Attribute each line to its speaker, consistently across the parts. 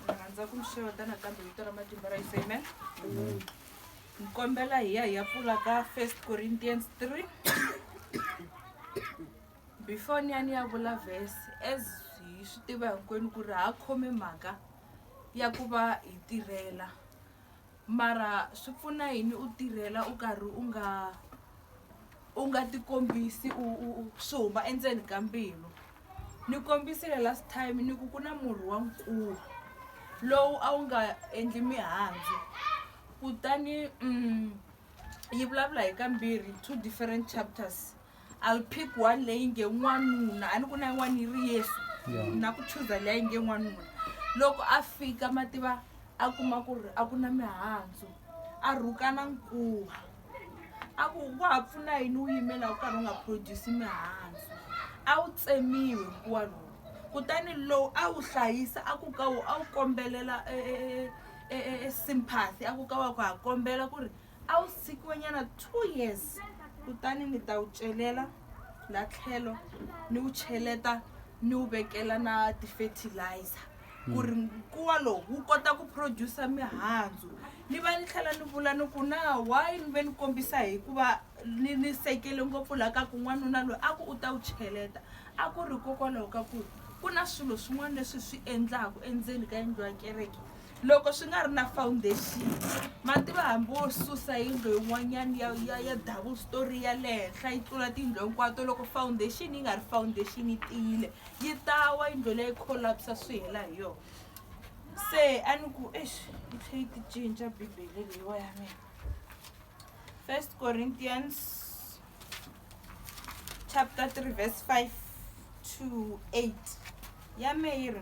Speaker 1: rhandza ku mi xeweta nakambe vito ra matimba ra yesu amen ni kombela hi ya hi ya pfula ka first corinthians 3 before ni ya ni ya vula vhesi as hi swi tiva hinkwenu ku ri ha khome mhaka ya ku va hi tirhela Mara swi pfuna yini u tirhela u karhi u nga u nga tikombisi u u u swi huma endzeni ka mbilu ni kombisile last time ni ku ku na murhi wa nkulu lowu a wu nga endli mihandzu kutani yi vulavula hi kambirhi two different chapters. a wu pick one leyi nge n'wanuna a ni ku na yin'wana yi ri yesu na ku chuza leyi a yi nge n'wanuna loko a fika ma tiva a kuma ku ri a ku na mihandzu a rhukana nkuwa a ku wa ha pfuna yini wu yimela wu karhi wu nga produce mihandzu a wu tsemiwe nkuwa lowu kutani lowu a wu hlayisa a ku ka wu a wu kombelela e, e, e, e, e, e sympathy a ku ka wa ku ha kombela ku ri A wu sikiwenyana two years kutani ni ta wu celela la tlhelo ni wu cheleta ni wu vekela na ti-fertilizer ku ri nkuwa lowu wu kota ku producer mihandzu ni va ni tlhela ni vula ni ku na why ni ve ni kombisa hikuva ni ni sekele ngopfu laha ka ku n'wanuna loyi a ku u ta wu cheleta a ku ri hikokwalaho ka ku ku na swilo swin'wana leswi hi swi endlaku endzeni ka yindlu ya kereke loko swi nga ri na foundation mativa hambi wo susa yindlo yin'wanyana ya ya ya double story ya le henhla yi tlula tiyindlo hinkwato loko foundation yi nga ri foundation yi tiyile yi tawa yindlo leyi collapsa swi hela hi yona se a ni ku exi yi tlhe yi ti cinca bibele leyiwa ya mina first corinthians chapter 3 verse 5 to 8 ya me yi ri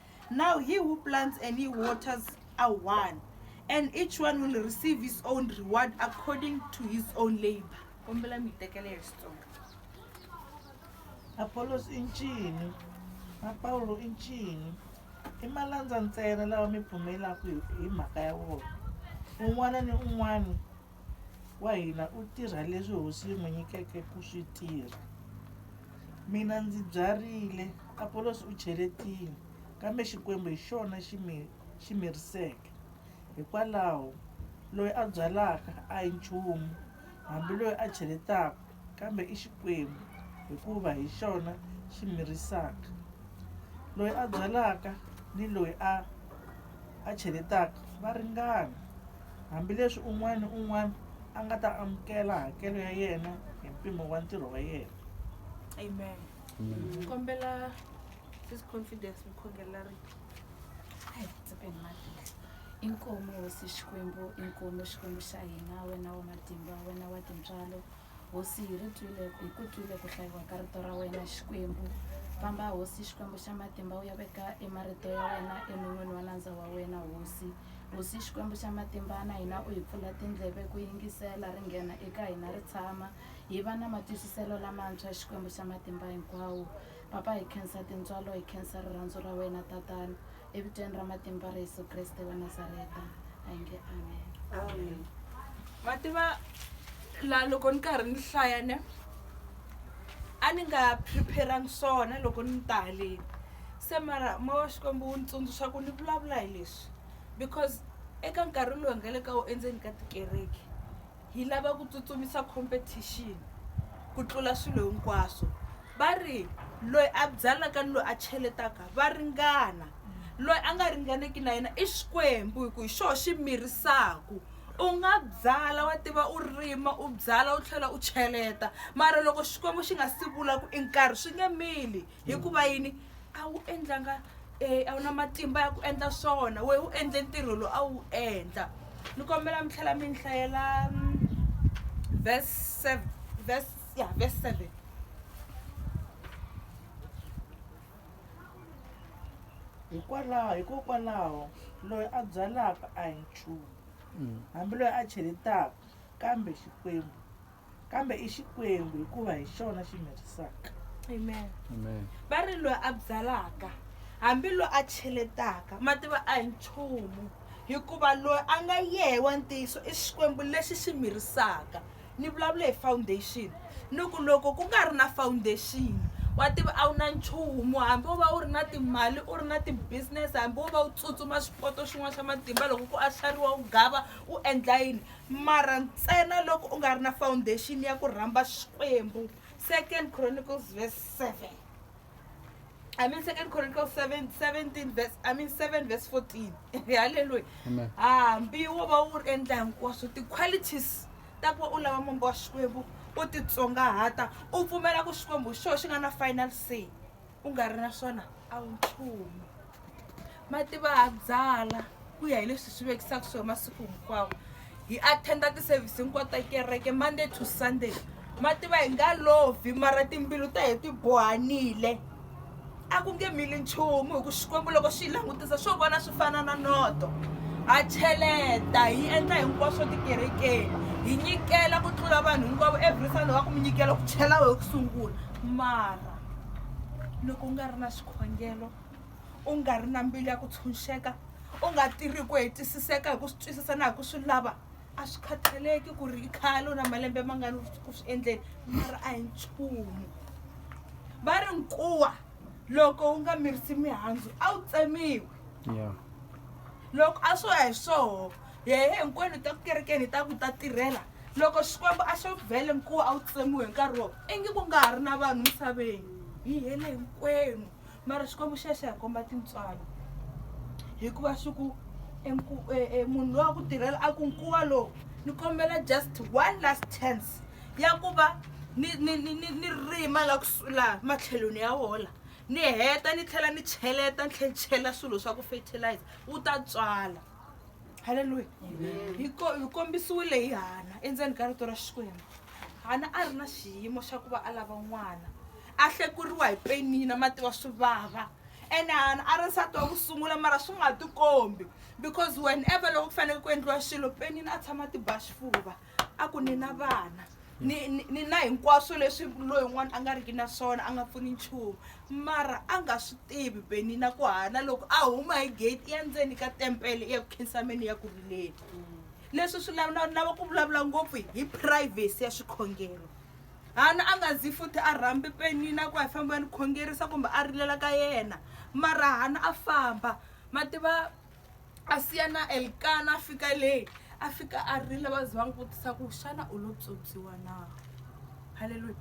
Speaker 1: Now he who plants and he waters are one, and each one will receive his own reward according to his own labor. Kombela mi tekela hi Xitsonga. Apollos i ncini? Na Pawulo i ncini? I malandza ntsena lawa mi pfumelaka hi hi mhaka ya wona. Un'wana ni un'wana wa hina u tirha leswi hosi yi n'wi nyikeke ku swi tirha mina ndzi byarile apolosi u cheletile kambe xikwembu hi xona xi mi xi miriseke hikwalaho loyi a byalaka a hi nchumu hambi loyi a cheletaka Kambe i Xikwembu, hikuva hi xona xi mirisaka. Loyi a byalaka ni loyi a a cheletaka va ringana, hambileswi un'wana ni un'wana a nga ta amukela hakelo ya yena hi mpimo wa ntirho wa yena. Amen. Kombela this confidence mukhongela ri ai tsepeni madlile inkomo hosi xikwembu inkomo xikwembu xa hina wena wa matimba wena wa tintswalo hosi hi ri twile hi ku twile ku hlayiwa ka rito ra wena xikwembu famba hosi xikwembu xa matimba u ya veka emarito ya wena enon'wini wa nandza wa wena hosi hosi xikwembu xa matimba na hina u hi pfula tindleve ku yingisela ri nghena eka hina ri tshama hi va na matwisiselo lamantshwa xikwembu xa matimba hinkwawo Papa, hi khensa tintswalo, hi khensa rirhandzu ra wena Tatana, evitweni ra matimba ra Yesu Kreste wa Nazareta, hi nge Amen. Amen. Ma tiva la loko ni karhi ni hlaya ne a ni nga preparang swona loko ni ta haleni se mara moya wa xikwembu wu ni tsundzuxa ku ni vulavula hi leswi because eka nkarhi lowu hi nga le ka wu endzeni ka tikereke hi lava ku tsutsumisa competition ku tlula swilo hinkwaswo va ri loyi a byalaka ni loyi a cheletaka va ringana loyi a nga ringaneki na yena i xikwembu hi ku hi xoho xi mirisaku u nga byala wa tiva u rima u byala u tlhela u cheleta mara loko xikwembu xi nga si vula ku i nkarhi swi nge mili hikuva yini a wu endlanga um a wu na matimba ya ku endla swona wehe u endle ntirho lowu a wu endla ni kombela mi tlhela mi ni hlayela mm, verse verse Yeah, verse 7. hikwalaho hikokwalaho loyi a byalaka a hi nchumu mm. hambi loyi a cheletaka kambe xikwembu kambe i xikwembu hikuva hi xona xi mirisaka amen va ri loyi a byalaka hambi loyi a cheletaka mativa a hi nchumu hikuva loyi a nga yehe wa ntiyiso i xikwembu lexi xi mirisaka ni vulavula hi foundation ni ku loko ku nga ri na foundation wa tiva a wu na nchumu hambi wo va u ri na timali u ri na ti-business hambi wo va u tsutsuma xipoto xin'wana xa matimba loko ku ahlariwa u gava u endla yini mara ntsena loko u nga ri na foundation ya ku rhamba xikwembu second chronicles verse seven I mean, Second Chronicles 7, 17 verse, I mean 7 verse 14. Hallelujah. Amen. Ah, mbiyo wo va wu ri endla hinkwaswo ti-qualities ta ku va u lava mombo wa xikwembu u titsongahata u pfumela ku xikwembu xo xi nga na final say u nga ri na swona a wu nchumu Mativahadzala, ku ya hi leswi swi vekisaka swona masiku hinkwawo hi attenda ti-service hinkwato ta kereke monday to sunday mativa hi nga lovi mara timbilu ta hi ti bohanile a ku nge mili nchumu hi ku xikwembu loko xi yi langutisa swo vona swi fana na noto ha cheleta hi endla hinkwaswo tikerekeni hi nyikela ku tlula vanhu hinkwavo every sunday wa ku mi nyikela ku chela wehe ku sungula mara loko u nga ri na xikhongelo u nga ri na mbilu ya ku tshunxeka u nga tirhi ku hetisiseka hi ku swi twisisa na hi ku swi lava a swi khathaleki ku ri i khale u na malembe mangani ku swi endleni mara a hi nchumu va ri nkuwa loko wu nga mirisi mihandzu a wu tsemiwi yeah. loko a swo ya hi swoho yehe hinkwenu ta ku kerekeni hi ta ku ta tirhela loko xikwembu a xo vhele nkuwa a wu tsemiwe hi nkarhi wo ingi ku nga ha ri na vanhu misaveni hi hele hinkwenu mara xikwembu xa xa hi komba tintswalo hikuva swi ku e nku- e- e munhu loyi wa ku tirhela a ku nkuwa lowu ni kombela just one last chance ya ku va ni ni ni ni ni rima la kusu- laha matlhelweni ya wola ni heta ni tlhela ni cheleta ni tlhela ni chela swilo swa ku fertilizer wu ta tswala halleluya hi ko- hi kombisiwile hi hana endzeni ka rito ra xikwembu hana a ri na xiyimo xa ku va a lava n'wana a hlekuriwa hi penina mati wa swi vava ene hana a ri nsati wa ku sungula mara swi nga tikombi because whenever loko ku fanele ku endliwa xilo penina a tshama ti ba xifuva a ku ni na vana ni ni- ni na hinkwaswo leswi loyi un'wana a nga riki na swona a nga pfuni nchumu mara a nga swi tivi penina ku hana loko a huma hi gate i ya ndzeni ka tempele i ya ku khinsameni ya ku rileni leswi swi lava na- lava ku vulavula ngopfu hi privacy ya xikhongelo Hana a nga zi futhi a rhambi Penina ku a famba a ni khongerisa kumbe a rilela ka yena. Mara Hana a famba, ma tiva, a siya na Elkana a fika le, a fika a rila va za va n'wi vutisa ku xana u lo pyopyiwa na? Haleluya!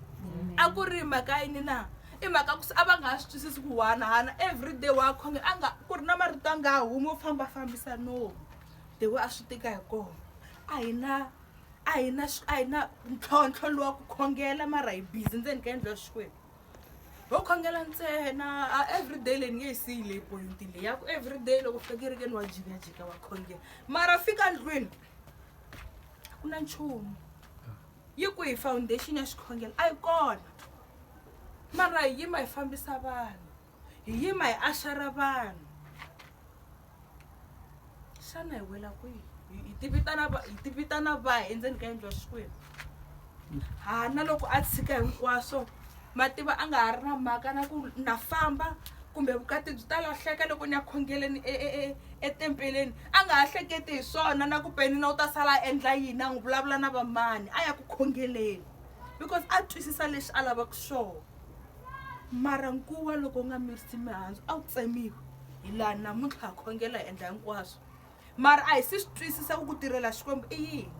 Speaker 1: A ku ri mhaka yini na? I mhaka ku se a va nga ha swi twisisi ku wani Hana everyday wa khonge a nga ku ri na marito a nga ha humi wo fambafambisa nomu the way a swi tika hi kona. A hi na. a hi na a hi na ntlhontlho lowa ku khongela mara hi busy ndzeni ka yendlo ya xikwembu ho khongela ntsena a everyday leyi ni nge yi siyi leyi point leyi ya ku everyday loko fika kerekeni wa jikajika wa khongela mara fika ndlwini ku na nchumu yi ku hi foundation ya xikhongelo a yi kona mara hi yima hi fambisa vanhu hi yima hi axara vanhu xana hi wela kwihi hi ti vitana hi ti vitana va endzeni ka yindlu ya xikwembu ha na loko a tshika hinkwaswo mativa a nga ha ri na mhaka na ku na famba kumbe vukati byi ta lahleka loko ni ya khongeleni e, e, e, etempeleni a nga ha hleketi hi swona na ku penina u ta sala a endla yini a n'wi vulavula na vamani a ya ku khongeleni because a twisisa lexi a lavaka xona mara nkuwa loko u nga mirisi mihandzu a wu tsemiwi hi laha namuntlha ha khongela hi endla hinkwaswo mara a hi si swi twisisa ku ku tirhela xikwembu i yini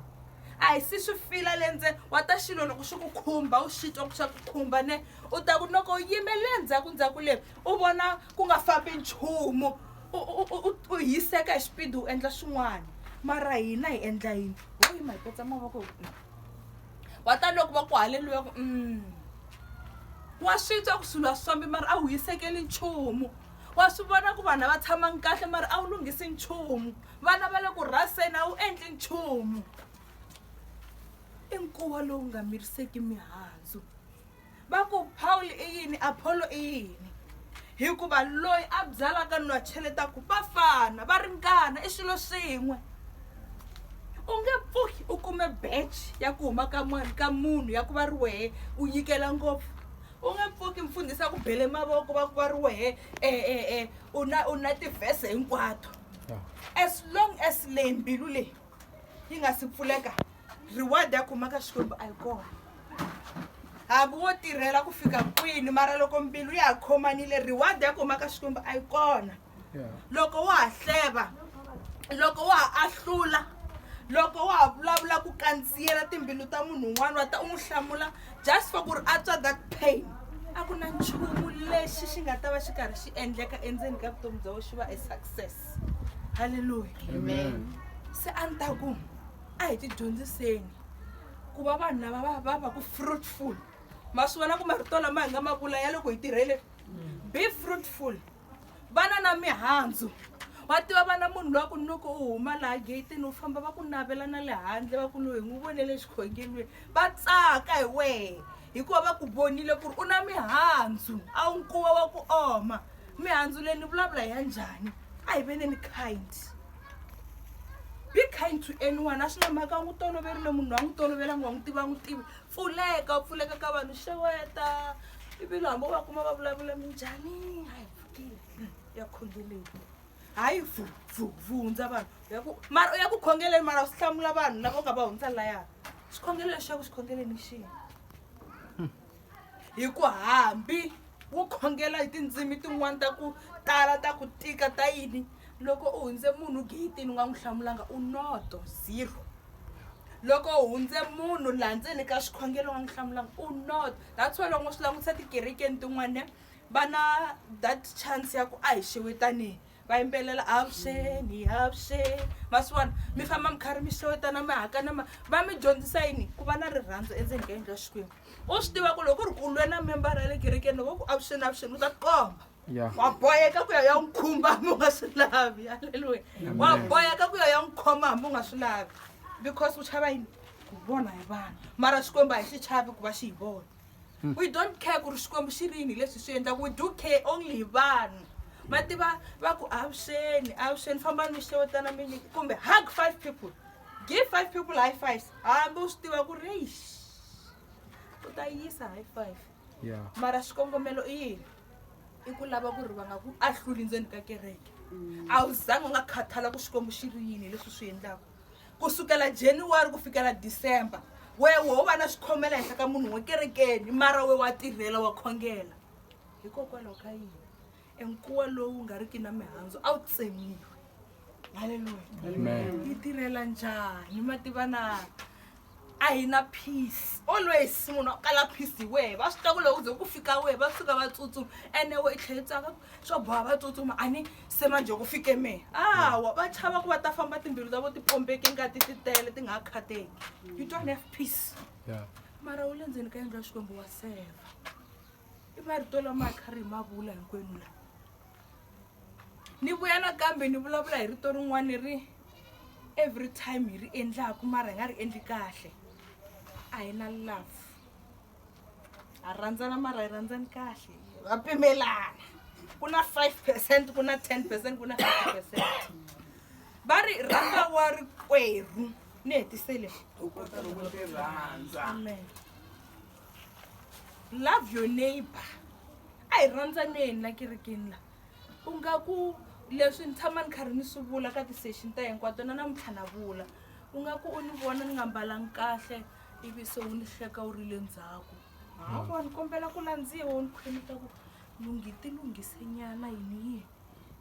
Speaker 1: a hi si swi fila le ntsena wa ta xilo loko xi ku khumba u xi twa ku xa ku khumba ne u ta ku loko u yime le ndzhaku ndzhaku le u vona ku nga fambi nchumu u hiseka hi xipidi u endla swin'wana mara hina hi endla yini ho yima hi petsa mavoko hi ku wa ta loko va ku haleluya ku mm. wa swi twa ku swilo a swi fambi mara a wu hisekeli nchumu wa swi vona ku vanhu a va tshamangi kahle mara a wu lunghisi nchumu vana va le ku rhaseni a wu endli nchumu i nkuwa lowu nga miriseki mihandzu va ku pawulo i yini apholo i yini hikuva loyi a byalaka ni loyi a cheletaku va fana va ringana i swilo swin'we u nge pfuki u kume beche ya ku huma ka mani ka munhu ya ku va ri wehe u nyikela ngopfu u nge pfuki mfundhisi a ku bele mavoko va ku va ri wehe um u na u na tivhese hinkwato as long as leyi mbilu leyi yi nga si pfuleka reward ya khomaka xikwembu a yi kona hambi wo tirhela ku fika kwini mara loko mbilu ya ha khomanile reward ya khomaka xikwembu a yi kona loko wa ha hleva loko wa ha ahlula loko wa ha vulavula ku kandziyela timbilu ta munhu un'wana wa ta u n'wi hlamula just for ku ri a twa that pain a ku na nchumu lexi xi nga ta va xi karhi xi endleka endzeni ka vutomi bya wena xi va e success halleluya amen se a ni ta ku a hi tidyondziseni ku va vanhu lava va va va ku fruitful ma swi vona ku marito lama hi nga ma vula ya loko hi tirhele be fruitful vana na mihandzu wa tiva vana munhu loyi a ku ni loko u huma laha getini u famba va ku navela na le handle va ku loyi hi n'wi vone le xikhongelweni va tsaka hi wehe hikuva va ku vonile ku ri u na mihandzu a wu nkuwa wa ku oma mihandzu leyi ni vulavula hi ya njhani a hi veneni kind be kind to anyone a swi na mhaka a n'wi toloverile munhu loyi a n'wi tolovelanga wa n'wi tiva a n'wi tivi pfuleka u pfuleka ka vanhu xeweta ivilo hambi u va kuma va vulavula minjhani a hi pfukile ya khongeleni hayi vu vu vu hundza vanhu u ya ku mara u ya ku khongeleni mara u hlamula vanhu lava u nga va hundza laya xikhongelo lexaku xikhongeleni xihi hi ku hambi wu khongela hi tindzimi tin'wana ta ku tala ta ku tika ta yini loko u hundze munhu geyitini u nga n'wi hlamulanga u noto zero loko u hundze munhu laha ndzeni ka xikhongelo u nga n'wi hlamulanga u noto that's why loko swi langutisa tikerekeni tin'wana va na that chance ya ku a hi xewetaneni va yimbelela avuxeni avuxeni ma swi vona mi famba mi karhi mi xewetana mi hakana ma va mi dyondzisa yini ku va na rirhandzu endzeni ka yindlu ya xikwembu u swi tiva ku loko ku ri ku lwe na membara ya le kerekeni loko ku avuxeni avuxeni u ta tikomba Yeah. wa boyeka ku ya ya n'wi khumba hambi u nga swi lavi halleluya wa boyeka ku ya ya n'wi khoma hambi u nga swi lavi because u chava yini ku vona hi vanhu mara xikwembu a hi xi chavi ku va xi hi vona hmm. we don't care ku ri xikwembu xi ri yini hi leswi swi endlaka we do care only hi vanhu ma tiva va ku avuxeni avuxeni fambani mi xewetana mi nyiki kumbe hug five people give five people high fives hambi u swi tiva ku ri eish u ta yisa high five mara xikongomelo i yini i ku lava ku ri va nga ku ahluli ndzeni ka kereke mm. a wu zangi u nga khathala ku xikwembu xi ri yini hi leswi swi endlaka ku sukela january ku fikela december wehe wo va na swikhomela henhla ka munhu wo kerekeni mara we wa tirhela wa khongela hikokwalaho ka yini enkuwa lowu nga riki na mihandzu a wu tsemiwi haleluya yi tirhela njhani ma tiva na a hi na peace always munhu a kala peace hi wehe va swi tiva ku loko ze ku fika wehe va fika va tsutsuma ene we i tlhela tsaka swo boha va tsutsuma a ni se manje ku fike mehe awa va chava ku va ta famba timbilu ta vo ti pombeke ngati ti tele ti nga ha khateki you don't have peace mara wu le ndzeni ka yendla xikwembu wa seva i marito lama a kha ri hi mavula hinkwenu lawa ni vuya nakambe ni vulavula hi rito rin'wana ni ri every time hi ri endlaku mara hi nga ri endli kahle a hi na love ha rhandzana mara hi rhandzani kahle va pimelana ku na five percent ku na ten percent ku na five percent va ri rhanga wa ri kwerhu ni hetisele amen love your neighbor a hi rhandzaneni la kerekeni la u nga ku leswi ni tshama ni karhi ni swi vula ka ti-session ta hinkwato na namuntlha na vula u nga ku u ni vona ni nga mbalangi kahle ivi se wu ni hleka wu ri le ndzhaku hawa ni kombela ku landziwa wu ni khweleta ku lunghi ti lunghisenyana yini yini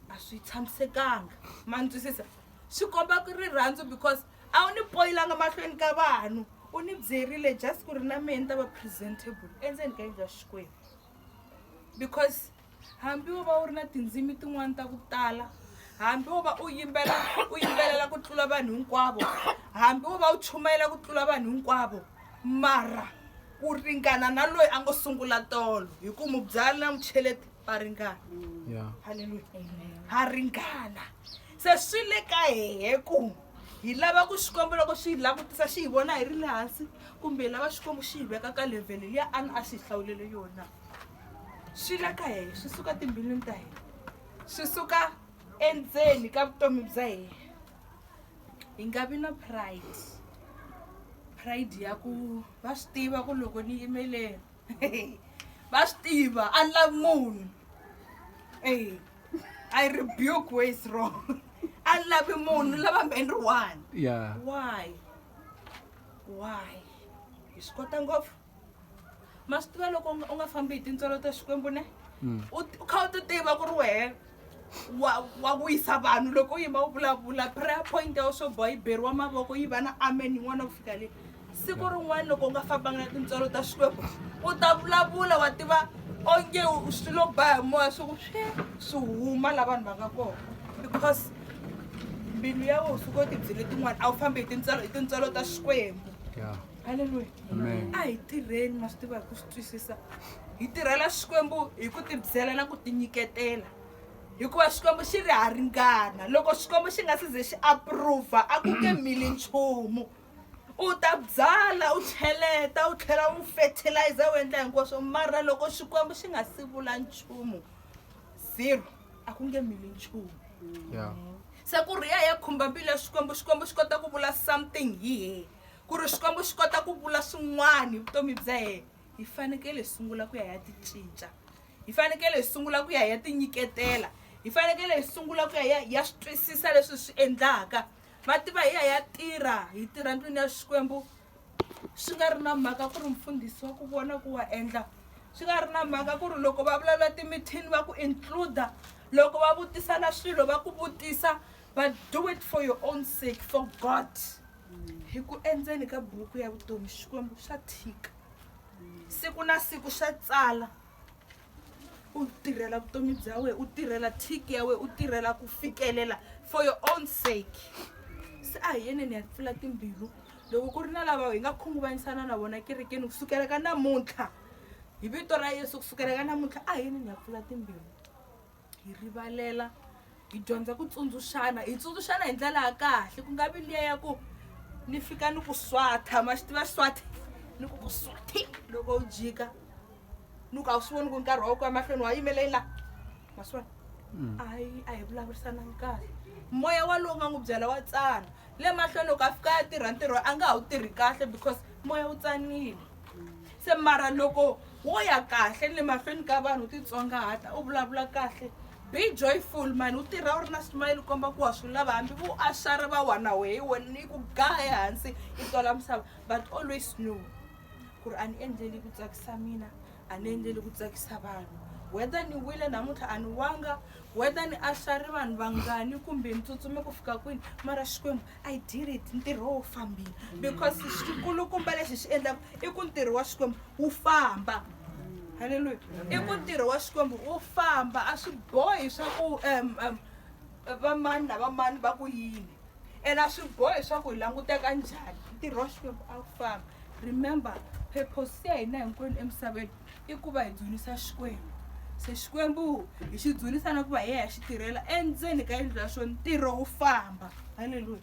Speaker 1: a swi tshamisekanga ma ni twisisa swi komba ku rirhandzu because a wu ni poyilanga mahlweni ka vanhu u ni byerile just ku ri na mehe ni ta va presentable endzeni ka yindlu ya xikwembu because hambi wo va u ri na tindzimi tin'wani ta ku tala hambi wo va u yimbela u yimbelela ku tlula vanhu hinkwavo hambi wo va u chumayela ku tlula vanhu hinkwavo mara u ringana na loyi a ngo sungula tolo hi ku mubyali na mucheleti va ringana halleluya ha ringana se swi le ka hehe ku hi lava ku xikwembu loko swi hi langutisa xi hi vona hi ri le hansi kumbe hi lava xikwembu xi hi veka ka levhele liya a ni a xi hi hlawulele yona swi le ka hehe swi suka timbilwini ta hina swi suka endzeni ka vutomi bya hina hi nga vi na pride pride ya ku va swi tiva ku loko ni yimeleni va swi tiva a ni lavi munhu e I rebuke where is wrong. I love him more. Love him one. Yeah. Why? Why? Hi swi kota ngopfu. Ma swi tiva loko u nga fambi hi tintswalo ta Xikwembu ne? Hmm. U kha u ti tiva ku ri wehe wa wa wisa vanhu loko u yima u vulavula prayer point ya wena swo boha yi beriwa mavoko yi va na amen yin'wana ku fika le. siku rin'wana loko u nga fambanga na tintswalo ta xikwembu u ta vulavula wa tiva onge swi lo ba hi moya swi ku swi swi huma la vanhu va nga kona because mbilu ya wena suka tibyi letin'wana a wu fambi hi tintswalo hi tintswalo ta xikwembu halleluya a hi tirheni ma swi tiva hi ku swi twisisa hi tirhela xikwembu hi ku tibyela na ku tinyiketela hikuva xikwembu xi ri ha ringana loko xikwembu xi nga si ze xi approva a ku nge mili nchumu u ta byala u cheleta u tlhela u fertilizer u endla hinkwaswo mara loko xikwembu xi nga si vula nchumu zero a ku nge mili nchumu yeah. se ku ri ya ya khumba mbilu ya xikwembu xikwembu xi kota ku vula something hi yena ku ri xikwembu xi kota ku vula swin'wana hi vutomi bya yena hi fanekele hi sungula ku ya ya ti cinca hi fanekele hi sungula ku ya ya ti nyiketela hi fanekele hi sungula ku ya ya ya swi twisisa leswi swi endlaka va tiva hi ya ya tirha hi tirha ndlwini ya xikwembu swi nga ri na mhaka ku ri mfundhisi wa ku vona ku wa endla swi nga ri na mhaka ku ri loko va vulavula timithini va ku includa loko va vutisana swilo va ku vutisa but do it for your own sake for god hi ku endzeni ka buku ya vutomi xikwembu swa thika siku na siku swa tsala u tirhela vutomi bya wena u tirhela thiki ya wena u tirhela ku fikelela for your own sake se a hi yeneni ya pfula timbilu loko ku ri na lava hi nga khunguvanyisana na vona kerekeni kusukela ka namuntlha hi vito ra yesu kusukela ka namuntlha a hi yeneni ya pfula timbilu hi rivalela hi dyondza ku tsundzuxana hi tsundzuxana hi ndlela ya kahle ku nga vi liya ya ku ni fika ni ku swatha ma xi tiva swathe ni ku ku swathe loko u jika ni ku a wu swi voni ku nkarhi wa wu ku emahlweni wa yimelei la ma swi vona mm. a yi a hi vulavurisanangi kahle moya walowu nga n'wi byela wa tsana le mahlweni loko a fika a tirha ntirho a nga ha wu tirhi kahle because moya wu tsanile se mara loko wo ya kahle le mahlweni ka vanhu u titsongahata u vulavula kahle be joyful mani u tirha u ri na smile komba ku wa swi lava hambi vo ashara va wana wehe wena ni ku ga ehansi i tola misava but always know ku ri a ni endleli ku tsakisa mina a ni endleli ku tsakisa vanhu whether ni wile namuntlha a ni wanga whether ni ashari vanhu vangani kumbe ni tsutsume ku fika kwini mara xikwembu I did it ntirho wo fambile because xikulukumba lexi xi endlaka i ku ntirho wa xikwembu wu famba halleluya i ku ntirho wa xikwembu wu famba a swi bohi swa ku um um vamani na vamani va ku yini ene a swi bohi swa ku hi languteka njhani ntirho wa xikwembu a wu famba remember purpose ya hina hinkwenu emisaveni i ku va hi dzunisa Xikwembu. Se Xikwembu hi xi dzunisa na ku va hi ya hi ya xi tirhela endzeni ka yindlu ya xona ntirho wu famba. Haleluya.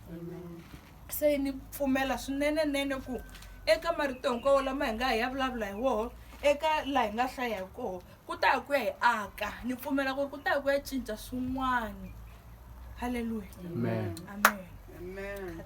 Speaker 1: se ni pfumela swinenenene ku eka marito hinkwawo lama hi nga hi ya vulavula hi woho eka laha hi nga hlaya hi koho ku ta ya ku ya hi aka ni pfumela ku ri ku ta ya ku ya cinca swin'wana halleluya amen amen